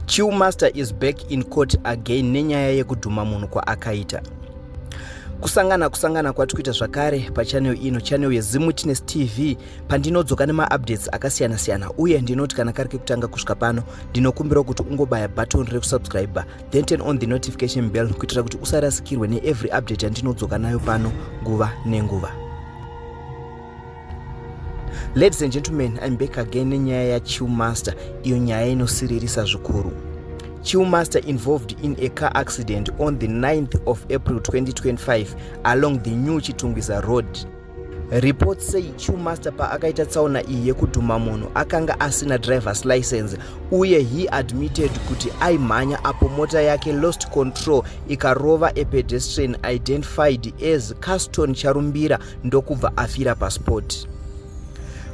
Chiu Master is back in court again nenyaya yekudhuma munhu kwaakaita. Kusangana kusangana kwatikuita zvakare pachannel ino channel yeZimwitness TV pandinodzoka nemaupdates akasiyana siyana uye ndinoti kana kari kekutanga kusvika pano ndinokumbira kuti ungobaya button rekusubscribe then turn on the notification bell kuitira kuti usarasikirwe neevery update yandinodzoka nayo pano nguva nenguva. Ladies and gentlemen, I'm back again nenyaya ya Chill Master, iyo nyaya inosiririsa zvikuru. Chill Master involved in a car accident on the 9th of April 2025 along the New Chitungwiza Road. Report say Chill Master paakaita tsaona iyi yekudhuma munhu akanga asina driver's license uye he admitted kuti aimhanya apo mota yake lost control ikarova a pedestrian identified as Caston Charumbira ndokubva afira pasport.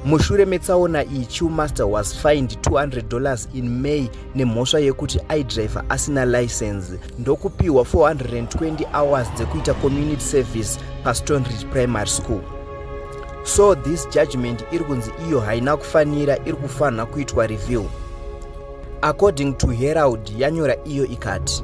Mushure metsaona iyi, Chewmaster was fined 200 dollars in May nemhosva yekuti aidriver asina license ndokupiwa 420 hours dzekuita community service paStonebridge Primary School. So this judgment iri kunzi iyo haina kufanira iri kufanira kuitwa review. According to Herald yanyora iyo ikati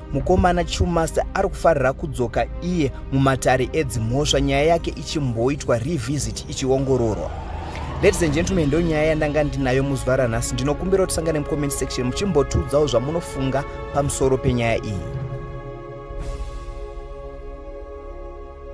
Mukomana Chumasta ari kufarira kudzoka iye mumatare edzimhosva nyaya yake ichimboitwa revisit ichiongororwa. Ladies and gentlemen, ndo nyaya yandanga ndinayo muzuva ranhasi. Ndinokumbira kuti sangane mucomment section muchimbotiudzawo zvamunofunga pamusoro penyaya iyi.